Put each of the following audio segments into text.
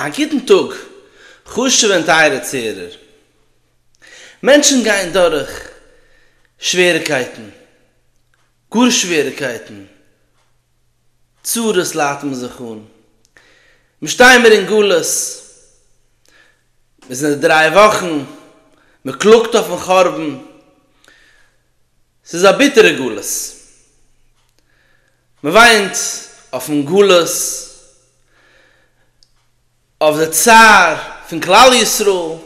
א גוטן טאג חשוב'ע און טייערע צוהערער. מענטשן גייען דורך שוועריקייטן, גאר שוועריקייטן, צרות ליידט מען זיך אן. מיר שטייען מיר אין גלות, מיר זענען די דריי וואכן, מען קלאגט אויפן חורבן, ס'איז א ביטערע גלות. מ'וויינט אויפן גלות, אויף די צער פון כלל ישראל,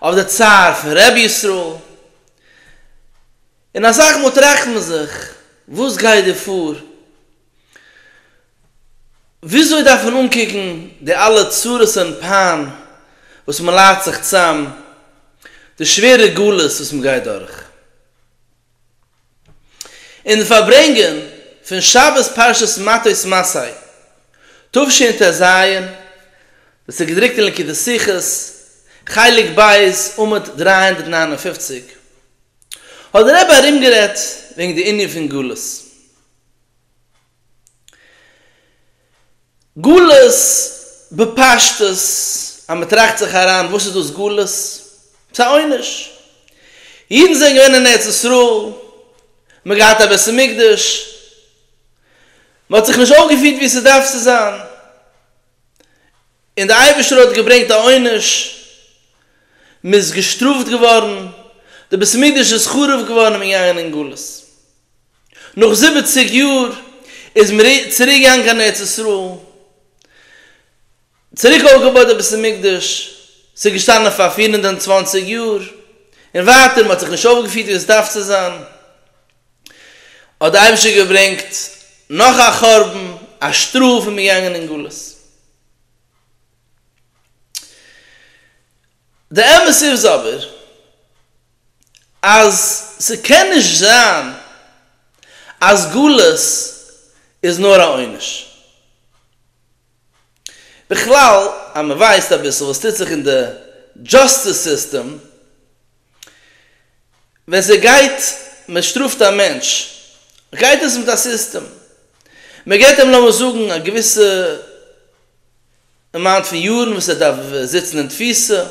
אויף די צער פון רבי ישראל, און אסאך מאל טראכט מען זיך, וואס גייט דא פאר? וויאזוי דארף מען אנקוקן די אלע צרות און פיין וואס מ'ליידט זיך צאם, די שווערע גלות וואס מ'גייט דורך? אין די פארברענגען פון שבת פרשת מטות מסעי תשעט ט ז, דאס איז געדרוקט אין ליקוטי שיחות, חלק ב', עמוד דרײַ הונדערט נײַן און פֿופֿציק, האט דער רבי ארומגערעדט וועגן די ענין פון גלות. גלות, בפשטות, אז מען טראכט זיך אריין, וואס איז דאס גלות? ס'איז א עונש. אידן זענען געווען אין ארץ ישראל, מען האט געהאט א בית המקדש, מען האט זיך נישט אויפגעפירט ווי ס'דארף צו זיין, און דער אייבערשטער האט געברענגט א עונש, מען איז געשטראפט געווארן, דער בית המקדש איז חרוב געווארן און מען איז געגאנגען אין גלות. נאך זיבעציג יאר איז מען צוריק געגאנגען קיין ארץ ישראל, צוריק אויפגעבויט די בית המקדש, ס'איז געשטאנען פאר פֿיר הונדערט צוואַנציק יאר, און ווייטער, מען האט זיך נישט אויפגעפירט ווי עס דארף צו זיין, האט דער אייבערשטער געברענגט נאך א חורבן, א שטראף, און מען איז געגאנגען אין גלות. די אמת איז אבער. אז ס'קען נישט זיין אז גלות איז נאר א עונש. בכלל אז מ'ווייסט אביסל וואס טוט זיך אין די דזשאסטיס סיסטעם, ווען ס'גייט מ'שטראפט א מענטש גייט עס מיט א סיסטעם, מ'געבט אים לאמיר זאגן א געוויסע אמאונט פון יארן וואס ער דארף זיצן אין תפיסה,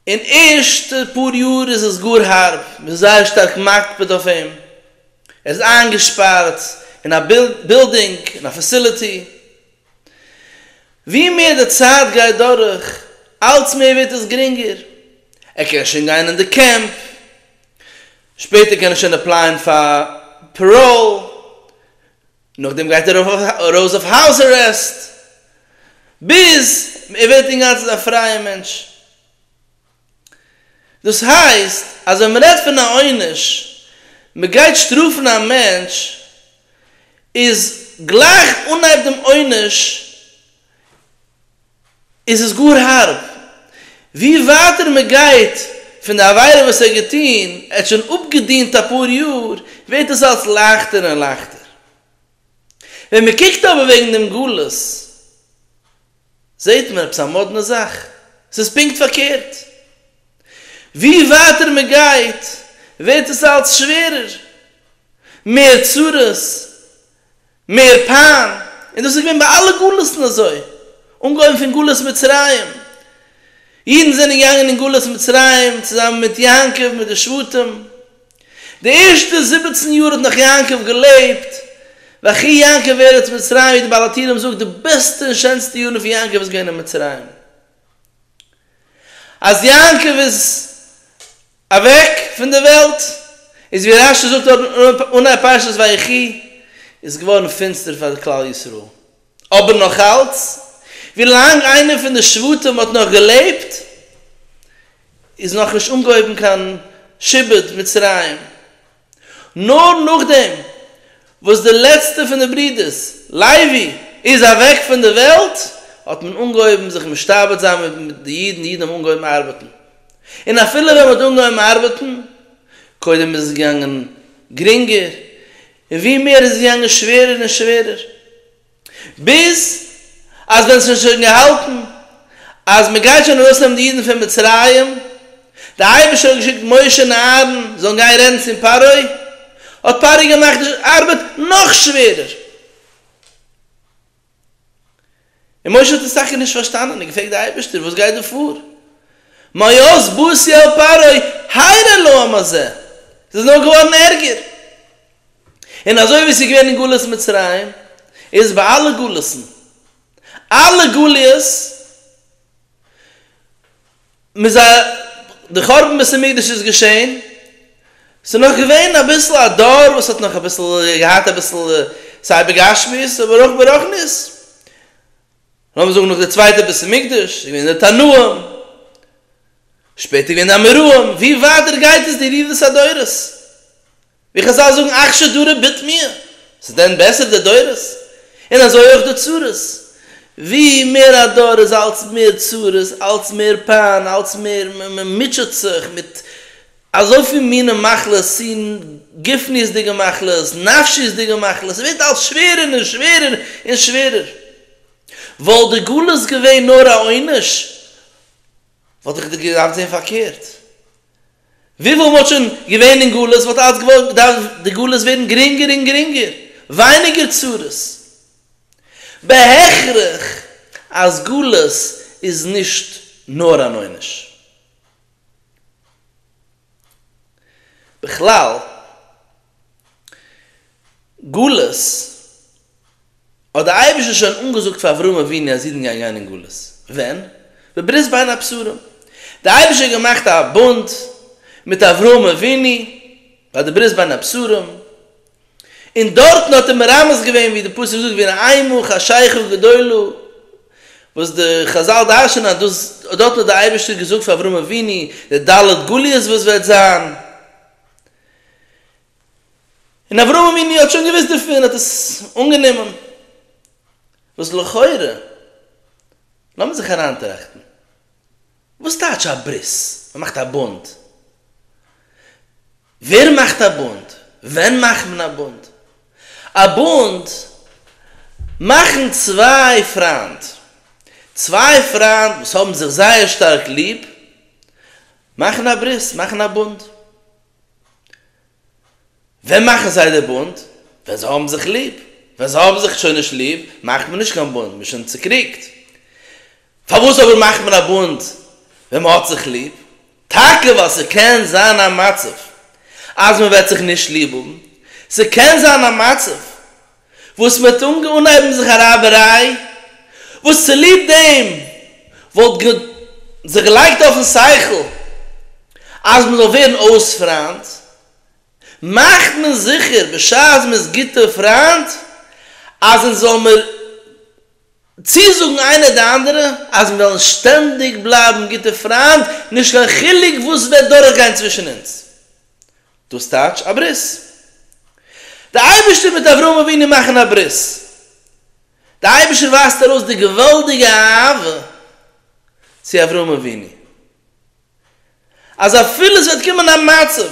אין ערשטע פאר יאר איז עס גאר הארב, מ'איז זייער שטארק מקפיד אויף אים, ער איז איינגעשפארט אין א בילדינג, אין א פעסיליטי, ווי מער די צייט גייט דורך אלץ מער ווערט עס גרינגער, ער קען שוין גיין אין די קעמפ, שפעטער קען ער שוין עפלייען פאר פעראל, נאכדעם גייט ער ארויס אויף האוז ארעסט ביז ער ווערט אינגאנצן א פרייע מענטש. דאס הייסט אז ווען מ'רעדט פון א עונש, מ'גייט שטראפן א מענטש, איז גלייך אנהייב דעם עונש איז עס גאר הארב. ווי ווייטער מען גייט פון די עבירה וואס ער האט געטון, ער האט שוין אפגעדינט אפאר יאר, ווערט עס אלץ לייכטער און לייכטער. ווען מען קוקט אבער וועגן דעם גלות, זעט מען עפעס א מאדנע זאך, עס איז פונקט פארקערט. ווי ווייטער מען גייט, ווערט עס אלץ שווערער, מער צרות, מער פּיין, און דאָס איז געווען ביי אַלע גלותן אַזוי, אָנגעהויבן פון גלות מצרים. אידן זענען געגאַנגען אין גלות מצרים צוזאַמען מיט יעקב, מיט די שבטים. די ערשטע זיבעצן יאָר האָט נאָך יעקב געלעבט, ויחי יעקב בארץ מצרים, ווי דער בעל התהילים זאָגט, די בעסטע און שענסטע יאָרן פון יעקב איז געווען אין מצרים. אַז יעקב איז. אוועק פון די וועלט, איז ווי רשי זאגט דארט אן א פרשת ויחי, איז געווארן פינסטער פאר כלל ישראל, אבער נאך אלץ, ווי לאנג איינער פון די שבטים האט נאך געלעבט, איז נאך נישט אנגעהויבן קיין שעבוד מצרים. נאר נאכדעם וואס דער לעצטער פון די ברודערס, לייבי, איז אוועק פון דער וועלט, האט מען אנגעהויבן זיך משתעבד זיין מיט די אידן, אידן האבן אנגעהויבן ארבעטן, און אפילו ווען מען האט אנגעהויבן ארבעטן, קודם איז עס געגאנגען גרינגער, און ווי מער איז עס געגאנגען שווערער און שווערער. ביז אז ווען ס'איז שוין געהאלטן אז מען גייט שוין ארויסנעמען די אידן פון מצרים, דער אייבערשטער האט געשיקט משה און אהרן זאלן גיין רעדן צום פרעה, האט פרעה געמאכט די ארבעט נאך שווערער, און משה האט עס טאקע נישט פארשטאנען און געפרעגט די אייבערשטער, וואס גייט דא פאר? מאז בוזי אל פרעה, היירא להם הזה, ס'איז נאר געווארן ערגער. און אזוי ווי עס איז געווען אין גלות מצרים, איז ביי אלע גלות'ן, אלע גליות, מיט זיי, די חורבן בית המקדש איז געשען, ס'איז נאך געווען אביסל א דור וואס האט נאך אביסל געהאט אביסל סיי בגשמיות אבער אויך ברוחניות, לאמיר זאגן נאך די צווייטע בית המקדש, איז געווען די תנאים, שפעטער איז געווען די אמוראים, ווי ווייטער גייט עס די ירידת הדורות. ווי חזל זאגן אכשר דרא ביט מיר, איז דען בעסער די דורות? און אזוי אויך די צרות, ווי מער א דור איז אלץ מער צרות, אלץ מער פיין, אלץ מער מ'מוטשעט זיך מיט אזויפיל מיני מחלות, צו גופניות'דיגע מחלות, נפשיות'דיגע מחלות, ס'ווערט אלץ שווערער און שווערער און שווערער. וואלט די גלות געווען נאר א עונש וואלט איך דיר געדארפט זען פארקערט. וויפיל מ'האט שוין געווען אין גלות וואלט אלץ געדארפט די גלות ווערן גרינגער און גרינגער, ווייניגער צרות. בהכרח אז גלות איז נישט נאר אן עונש. בכלל, גלות, האט דער אייבערשטער שוין אנגעזאגט פאר אברהם אבינו אז אידן גייען גיין אין גלות. ווען? בברית בין הבשרים. דער אייבערשטער האט געמאכט א בונד מיט אברהם אבינו ביי די ברית בין הבשרים, און דארטן האט ער מרמז געווען ווי די פסוק זאגט ואין עמו חשיכה גדולה, וואס די חזל דרש'נען אז דאס דארטן האט דער אייבערשטער געזאגט פאר אברהם אבינו די ד' גליות וואס וועט זיין, און אברהם אבינו האט שוין געוואוסט דערפון און האט עס אנגענומען, וואס לכאורה, לאמיר זיך אריינטראכטן. וואס טייטש א ברית? מען מאכט א בונד? ווער מאכט א בונד? ווען מאכט מען א בונד? א בונד מאכן צוויי פריינד, צוויי פריינד וואס האבן זיך זייער שטארק ליב מאכן א ברית, מאכן א בונד. ווען מאכן זיי די בונד? ווען זיי האבן זיך ליב. ווען זיי האבן זיך שוין נישט ליב, מאכט מען נישט קיין בונד, מען איז שוין צוקריגט. פארוואס אבער מאכט מען א בונד ווען מען האט זיך ליב? טאקע ווייל ס'קען זיין א מצב אז מען וועט זיך נישט ליב האבן, ס'קען זיין א מצב וואס מען האט אנגעהויבן זיך א רייבעריי, וואס צוליב דעם וואלט גאט זיך געלייגט אויפן שכל אז מען זאל ווערן אויס פריינט, מאכט מען זיכער בשעת מען איז גוטע פריינט אז אונז זאל מיר צוזאגן איינער די אנדערע אז מיר וועלן שטענדיג בלייבן גוטע פריינט נישט קיין חילוק וואס וועט דורכגיין צווישן אונז, דאס טייטש א ברית. דער אייבערשטער מיט אברהם אבינו מאכן א ברית. דער אייבערשטער ווייזט ארויס די געוואלדיגע אהבה צו אברהם אבינו, אז אפילו עס וועט קומען א מצב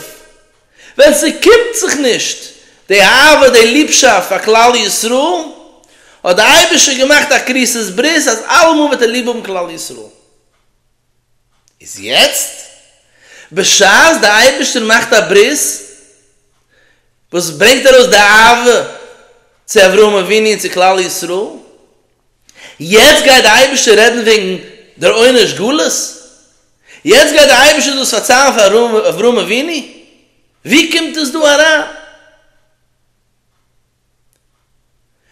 ווען ס'קומט זיך נישט די אהבה די ליבשאפט פאר כלל ישראל, האט דער אייבערשטער געמאכט א כריתת ברית אז אלעמאל וועט ער ליב האבן כלל ישראל. איז יעצט, בשעת די אייבערשטער מאכט א ברית וואס ברענגט ארויס די אהבה צו אברהם אבינו און צו כלל ישראל, יעצט גייט די אייבערשטער רעדן וועגן דער עונש גלות? יעצט גייט די אייבערשטער דאס פארציילן פאר אברהם אבינו? ווי קומט עס דא אריין?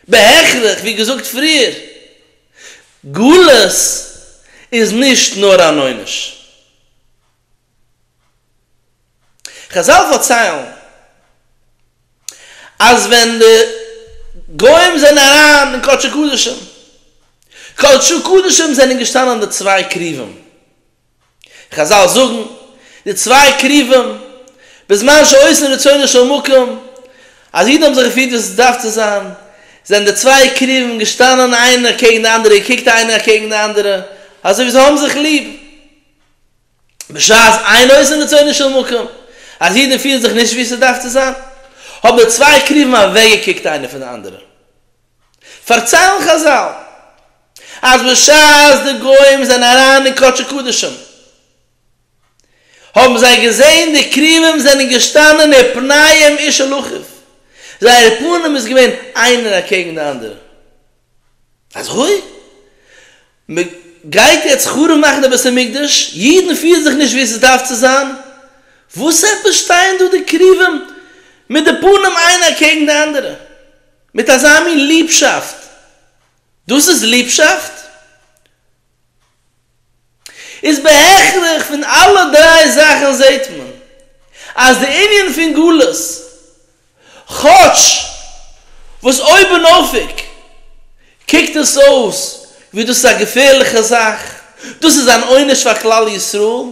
בהכרח, ווי געזאגט פריער, גלות איז נישט נאר אן עונש. חזל פארציילן אז ווען די גוים זענען אריין אין קדשי קדשים, קדשי קדשים זענען געשטאנען די צוויי קרובים, חזל זאגן, די צוויי קרובים, בזמן שעושים רצונו של מקום, אז אידן האבן זיך געפירט ווי עס דארף צו זיין, זענען די צוויי קרובים געשטאנען איינער קעגן די אנדערע, געקוקט איינער אקעגן די אנדערע, אזוי ווי זיי האבן זיך ליב. בשעת אין עושים רצונו של מקום, אז אידן פירן זיך נישט ווי עס דארף צו זיין, האבן די צוויי קרובים אוועקגעקוקט איינער פון די אנדערע. פארציילן חזל אז בשעת די גוים זענען אריין אין קדשי קדשים האבן זיי געזען די קרובים זענען געשטאנען און פניהם איש אל אחיו, זייער פנים איז געווען איינער אקעגן די אנדערע. אזוי? מען גייט יעצט חרוב מאכן די בית המקדש, אידן פירן זיך נישט ווי עס דארף צו זיין, וואס עפעס שטייען דא די קרובים מיט די פנים איינער אקעגן די אנדערע? מיט אזא מין ליבשאפט? דאס איז ליבשאפט? איז בהכרח פון אלע דריי זאכן זעהט מען אז די ענין פון גלות, כאטש וואס אויבנאויפיג קוקט עס אויס ווי דאס איז א געפערליכע זאך, דאס איז אן עונש פאר כלל ישראל,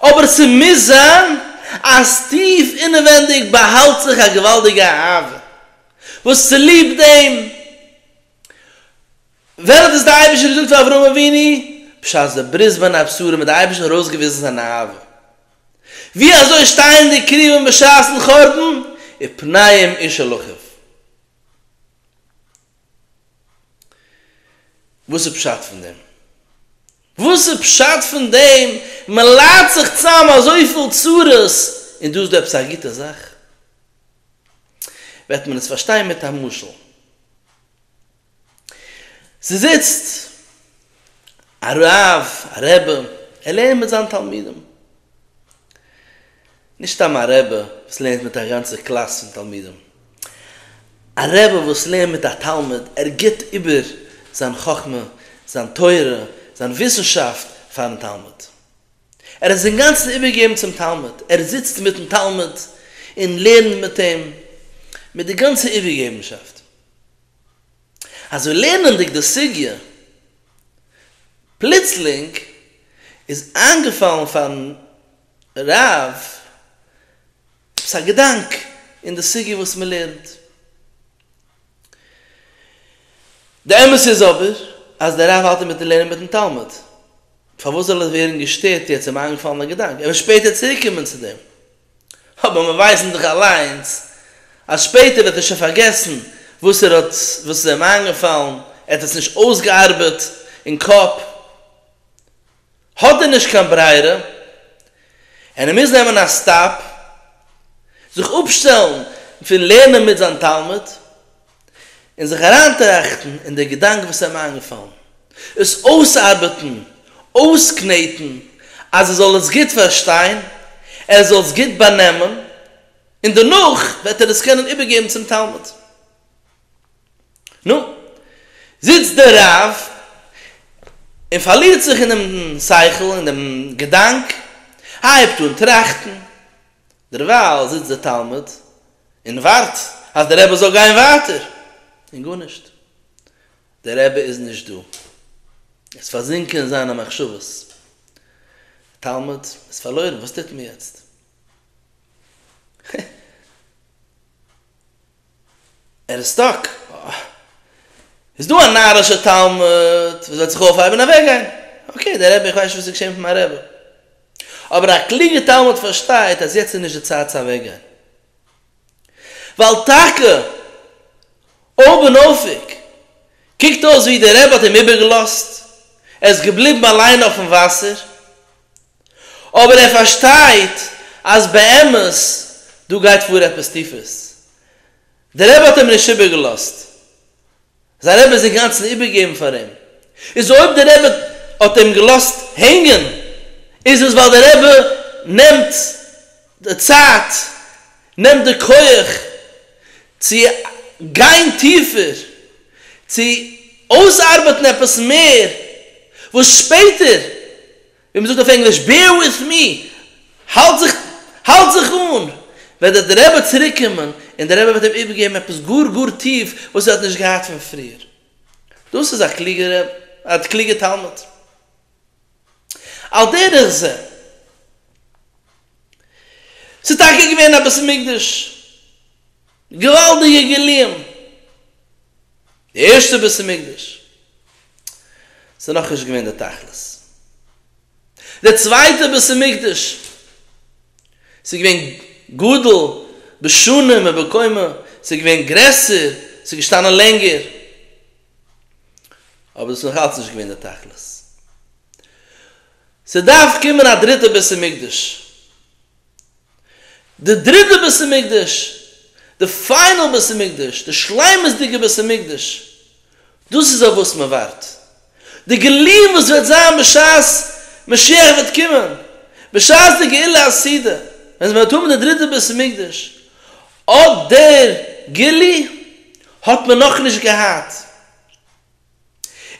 אבער ס'מוז זיין אז טיף אינעווענדיג באהאלט זיך א געוואלדיגע אהבה וואס צוליב דעם וועלט איז די אייבערשטער געזאגט פאר אברהם אבינו בשעת די ברית בין הבשרים האט די אייבערשטער ארויסגעוויזן זיין אהבה ווי אזוי שטייענדיג קרובים בשעת'ן חורבן ופניהם איש אל אחיו. וואס איז פשט פון דעם? וואס איז פשט פון דעם מען ליידט זיך צאם אזויפיל צרות און דא איז דא עפעס א גוטע זאך? וועט מען עס פארשטיין מיט א משל. ס'זיצט א רב, א רבי, ער לערנט מיט זיין תלמידים. נישט סתם א רבי וואס לערנט מיט א גאנצע קלאס פון תלמידים. א רבי וואס לערנט מיט א תלמיד, ער גיבט איבער זיין חכמה, זיין תורה, זיין וויסנשאפט פארן תלמיד. ער איז אינגאנצן איבערגעגעבן צום תלמיד, ער זיצט מיטן תלמיד און לערנט מיט אים מיט די גאנצע איבערגעגעבנשאפט. אזוי לערנענדיג די סוגיא, פלוצלינג איז איינגעפאלן פארן רב, עפעס א געדאנק אין די סוגיא וואס מען לערנט? די אמת איז אבער אז דער רב האלט אינמיטן לערנען מיטן תלמיד, פארוואס זאל ער ווערן געשטערט יעצט איז אים איינגעפאלן א געדאנק, ער וועט שפעטער צוריק קומען צו דעם, אבער מיר ווייסן דאך אליינס אז שפעטער וועט ער שוין פארגעסן וואס ער האט וואס איז אים איינגעפאלן, ער האט עס נישט אויסגעארבעט אין קאפ. האט ער נישט קיין ברירה און ער מוז נעמען א סטאפ, זיך אפשטעלן פון לערנען מיט זיין תלמיד און זיך אריינטראכטן אין די געדאנק וואס אים איינגעפאלן, עס אויסארבעטן, אויסקנעטן, אז ער זאל עס גוט פארשטיין, ער זאל עס גוט באנעמען, און דערנאך וועט ער עס קענען איבערגעבן צום תלמיד. נו, זיצט דער רב און פארלירט זיך אינעם שכל, אין דעם געדאנק, הייבט אן טראכטן, דערווייל זיצט דער תלמיד און ווארט אז דער רבי זאל גיין ווייטער, און גארנישט, דער רבי איז נישט דא, ער איז פארזינקען אין זיינע מחשבות, דער תלמיד איז פארלוירן, וואס טוט מען יעצט? ער איז סטאק. אה. איז דא א נארישע תלמיד וואס וועט זיך אויפהייבן און אוועקגיין. אקעי, דער רבי, איך ווייס נישט וואס איז געשען מיט מיין רבי. אבער א קלוגע תלמיד פארשטייט אז יעצט איז נישט די צייט צו אוועקגיין. ווייל טאקע אויבנאויפיג קוקט אויס ווי דער רבי האט אים איבערגעלאזט, ער איז געבליבן אליין אויפן וואסער. אבער ער פארשטייט אז באמת דא גייט פאר עפעס טיפערס. דער רבי האט אים נישט איבערגעלאזט, זיין רבי איז אינגאנצן איבערגעגעבן פאר אים, איז אויב דער רבי האט אים געלאזט הענגען איז עס ווייל דער רבי נעמט די צייט, נעמט די כח צו גיין טיפער, צו אויסארבעטן עפעס מער וואס שפעטער ווי מ'זאגט אויף ענגליש בעיר וויט מי, האלט זיך האלט זיך אן, וועט דער רבי צוריק קומען, און דער רבי וועט אים איבערגעבן עפעס גאר גאר טיף וואס ער האט נישט געהאט פון פריער. דאס איז א קלוגער א קלוגער תלמיד. על דרך זה, ס'איז טאקע געווען א בית המקדש געוואלדיגע גילויים! די ערשטע בית המקדש איז נאך נישט געווען די תכלית. די צווייטע בית המקדש ס'איז געווען גדול בשנים ובקומה, ס'איז געווען גרעסער, ס'איז געשטאנען לענגער, אבער דאס איז נאך אלץ נישט געווען די תכלית. ס'דארף קומען א דריטע בית המקדש. די דריטע בית המקדש, די פיינעל בית המקדש, די שלימות'דיגע בית המקדש, דאס איז אויף וואס מען ווארט, די גילויים וואס וועט זיין בשעת משיח וועט קומען, בשעת די גאולה העתידה, ווען מען וועט האבן די דריטע בית המקדש, אט דער גילוי האט מען נאכנישט געהאט.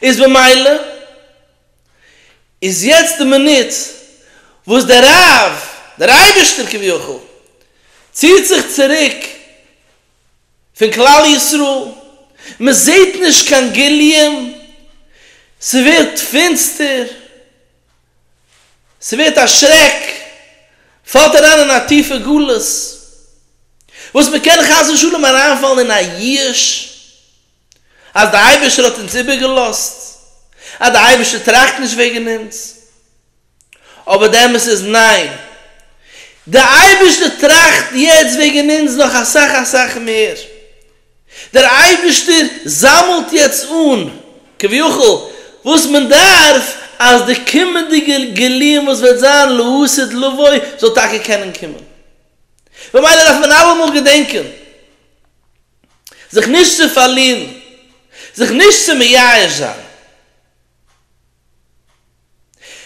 איז במילא איז יעצט די מינוט וואס דער רב, דער אייבערשטער כביכול, ציט זיך צוריק פון כלל ישראל, מען זעט נישט קיין גילויים, ס'ווערט פינסטער, ס'ווערט א שרעק, מ'פאלט אריין אין א טיפע גלות, וואס מ'קען חס ושלום אריינפאלן אין א יאוש, אז דער אייבערשטער האט אונז איבערגעלאזט, אז דער אייבערשטער טראכט נישט וועגן אונז, אבער די אמת איז ניין, דער אייבערשטער טראכט יעצט וועגן אונז נאך אסאך אסאך מער, דער אייבערשטער זאמלט יעצט אן כביכול וואס מען דארף אז די קומענדיגע גילויים וואס וועט זיין לעתיד לבוא זאל טאקע קענען קומען, ממילא דארף מען אלעמאל געדענקען. זיך נישט צו פארלירן, זיך נישט צו מייאש זיין.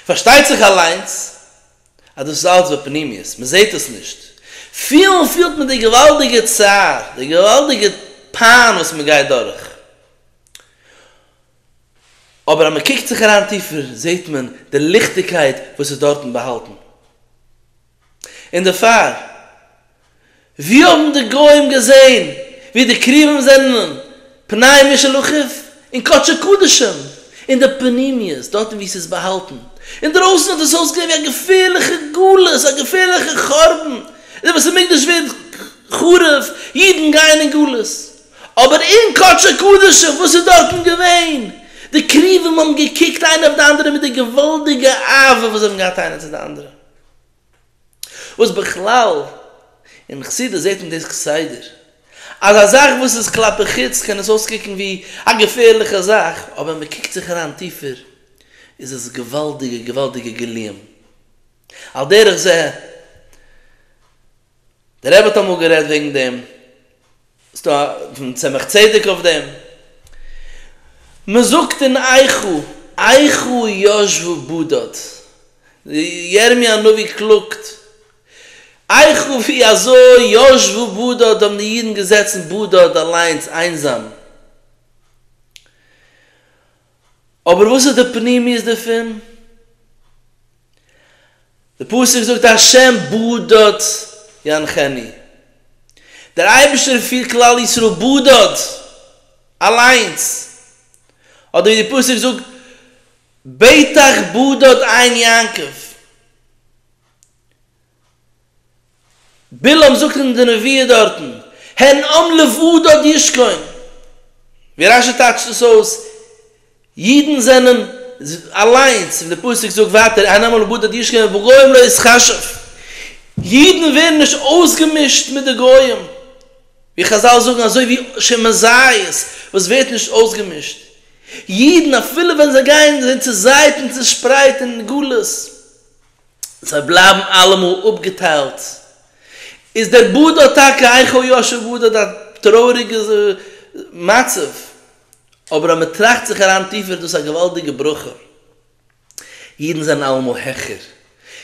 פארשטייט זיך אליינס אז דאס איז אלץ בפנימיות, מען זעט עס נישט. פילן פילט מען די געוואלדיגע צער, די געוואלדיגע פיין וואס מען גייט דורך, אבער אז מען קוקט זיך אריין טיפער זעט מען די ליכטיגקייט וואס איז דארטן באהאלטן. און דערפאר, ווי האבן די גוים געזען ווי די קרובים זענען פנאי משלחת און קדשי קדשים אין די פנימיות, דארטן ווי ס'איז באהאלטן, אינדרויסן האט עס אויסגעזען ווי א געפערליכע גלות, א געפערליכע חורבן, די בית המקדש ווערט חרוב, אידן גייען אין גלות, אבער אין קדשי קדשים וואס איז דארטן געווען? די קרובים האבן געקוקט איינער אויף די אנדערע מיט די געוואלדיגע אהבה וואס זיי האבן געהאט איינער צו די אנדערע. וואס בכלל אין חסידות זעט מען דאס כסדר אז א זאך וואס איז כלפי חוץ קען עס אויסקוקן ווי א געפערליכע זאך אבער מען קוקט זיך אריין טיפער איז עס געוואלדיגע געוואלדיגע גילויים על דרך זה. דער רבי האט אמאל גערעדט וועגן דעם, ס'איז דא פון צמח צדק אויף דעם, מ'זאגט אין איכה, איכה ישבו בדד, ירמי' הנביא קלאגט, איכה ווי אזוי ישבו בדד האבן די אידן געזעצן בדד אליינס איינזאם. אבער וואס איז די פנימיות דערפון? די פסוק זאגט השם בדד ינחני, דער אייבערשטער פירט כלל ישראל בדד, אליינס, אדער ווי די פסוק זאגט ביתך בדד עין יעקב, בלעם זאגט אין די נביאה דארטן, הן עם לבדד ישכון, ווי רש י טייטשט עס אויס, אידן זענען אליינס, ווי די פסוק זאגט ווייטער, הן עם לבדד ישכון ובגוים לא יתחשב, אידן ווערן נישט אויסגעמישט מיט די גוים, ווי חזל זאגן אזוי ווי שמן זית וואס ווערט נישט אויסגעמישט, אידן אפילו ווען זיי גייען זיי צוזייט און צושפרייט אין גלות, זיי בלייבן אלעמאל אפגעטיילט. איז דער באד האט טאקע אייך אוי יאשע באד האט א טרויעריגע מצב, אבער אז מען טראכט זיך אריין טיפער איז דאס א געוואלדיגע ברכה. אידן זענען אלעמאל העכער,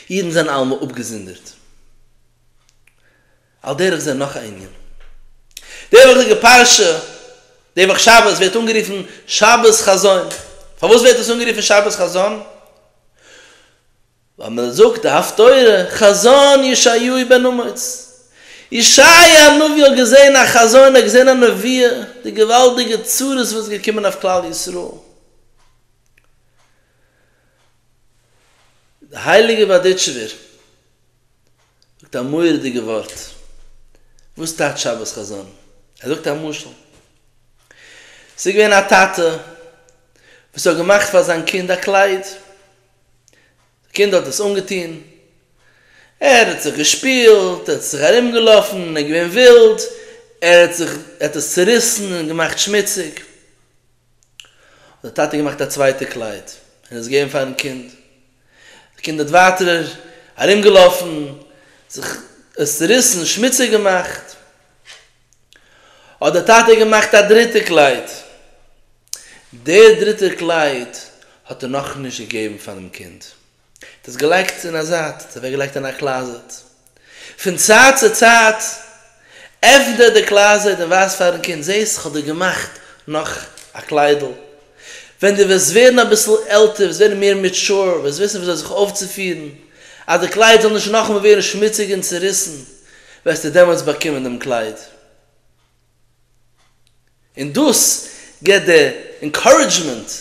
אידן זענען אלעמאל אפגעזונדערט. על דרך זה נאך א ענין. די וואכדיגע פרשה, די וואך שבת, ווערט אנגערופן שבת חזון. פארוואס ווערט עס אנגערופן שבת חזון? ווייל מען זאגט די הפטורה חזון ישעיהו בן אמוץ. ישעיה הנביא האט געזען א חזון, ער האט געזען א נביאה, די געוואלדיגע צרות וואס איז געקומען אויף כלל ישראל. די הייליגע בארדיטשובער זאגט א מורא'דיגע ווארט, וואס טייטש שבת חזון? ער זאגט א משל, ס'איז געווען א טאטע וואס האט געמאכט פאר זיין קינד א קלייד, די קינד האט עס אנגעטון, ער האט זיך געשפילט, ער האט זיך ארום געלאפן, ער איז געווען ווילד, ער האט זיך, ער האט עס צוריסן און געמאכט שמוציג, האט די טאטע געמאכט א צווייטע קלייד און עס געגעבן פארן קינד, די קינד האט ווייטער ארום געלאפן זיך עס צוריסן שמוציג געמאכט, האט די טאטע געמאכט א דריטע קלייד, די דריטע קלייד האט ער נאך נישט געגעבן פארן קינד. דאס געלייגט אין א זייט, דאס אוועק געלייגט אין א קלאזעט. פון צייט צו צייט עפנט ער די קלאזעט און ווייזט פארן קינד, זעסט איך האב דיר געמאכט נאך א קליידל. ווען דו וועסט ווערן אביסל עלטער, וועסט ווערן מער מעטשור, וועסט וויסן וויאזוי זיך אויפצופירן אז די קלייד זאל נישט נאכאמאל ווערן שמוציג און צעריסן, וועסטו דעמאלטס באקומען דעם קלייד. און דאס געבט די אינקארעדזשמענט,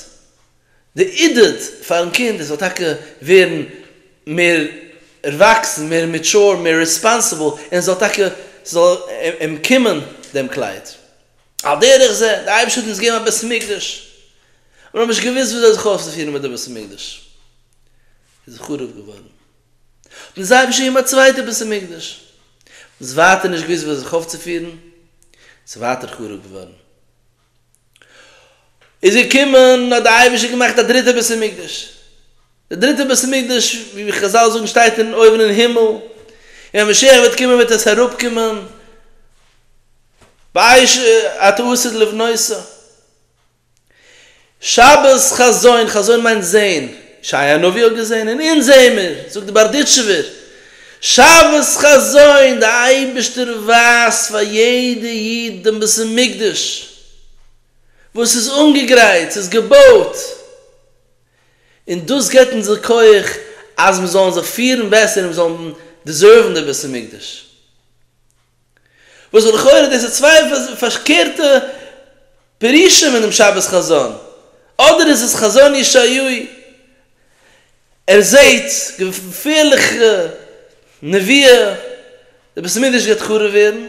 די עידוד פארן קינד עס זאל טאקע ווערן מער ערוואקסן, מער מעטשור, מער רעספאנסיבל, און זאל טאקע, ס'זאל אים קומען דעם קלייד. על דרך זה, דער אייבערשטער האט אונז געגעבן א בית המקדש, אבער מיר האבן נישט געוואוסט וויאזוי זיך אויפצופירן מיט די בית המקדש איז חרוב געווארן. דאס זיי האבן שוין געמאכט צווייטע בית המקדש, וואס ווייטער נישט געוואוסט וואו זיך אויפצופירן, ס'איז ווייטער חרוב געווארן. איז געקומען, האט דער אייבערשטער געמאכט א דריטע בית המקדש, דער דריטער בית המקדש, ווי חזל זאגן, שטייט אין אויבן אין הימל, און ווען משיח וועט קומען וועט עס אראפקומען, באש ע ט אסור לבנותו. שבת חזון, חזון מיינט זעהן, ישעיה הנביא האט געזעהן און אונז זעהן מיר, זאגט די בארדיטשובער שבת חזון, די אייבערשטער ווייזט פאר יעדע איד דעם בית המקדש וואס איז אנגעגרייט, ס'איז געבויט, און דאס געבט אונז די כח אז מיר זאלן זיך פירן בעסער און מיר זאלן דעזערוון די בית המקדש. וואס לכאורה דאס איז צוויי פארקערטע פירושים אין דעם שבת חזון, אדער איז עס חזון ישעיהו, ער זעהט געפערליכע נביאה די בית המקדש גייט חרוב ווערן,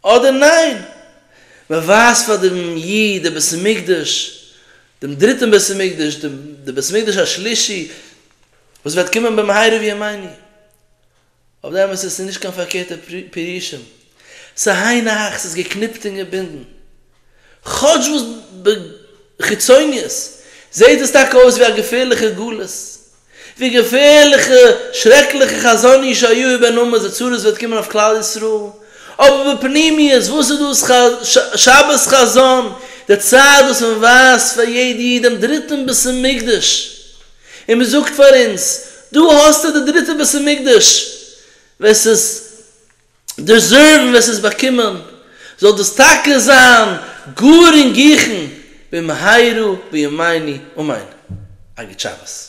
אדער ניין, מען ווייזט פאר דעם איד דעם בית המקדש, דעם דריטען בית המקדש, דעם בית המקדש השלישי וואס וועט קומען במהרה בימינו, אויף די אמת עס איז נישט קיין פארקערטע פירושים, ס'היינו הך ס'איז געקניפט און געבינדן, כאטש וואס בחיצוניות זעהט דאס טאקע אויס ווי א געפערליכע גלות, ווי געפערליכע שרעקליכע חזון איש היו איבער נמאס די צרות וועט קומען אויף כלל ישראל, אבער בפנימיות וואס איז דאס שבת חזון, די צייט וואס מען ווייזט פאר יעדע איד דעם דריטן בית המקדש. און מען זאגט פאר אונז, דא האסטו די דריטע בית המקדש, ווער ס'איז דעזערוון, ווער ס'איז באקומען, זאל דאס טאקע זיין גאר אינגיכן, במהרה בימינו אמן. א גוט שבת.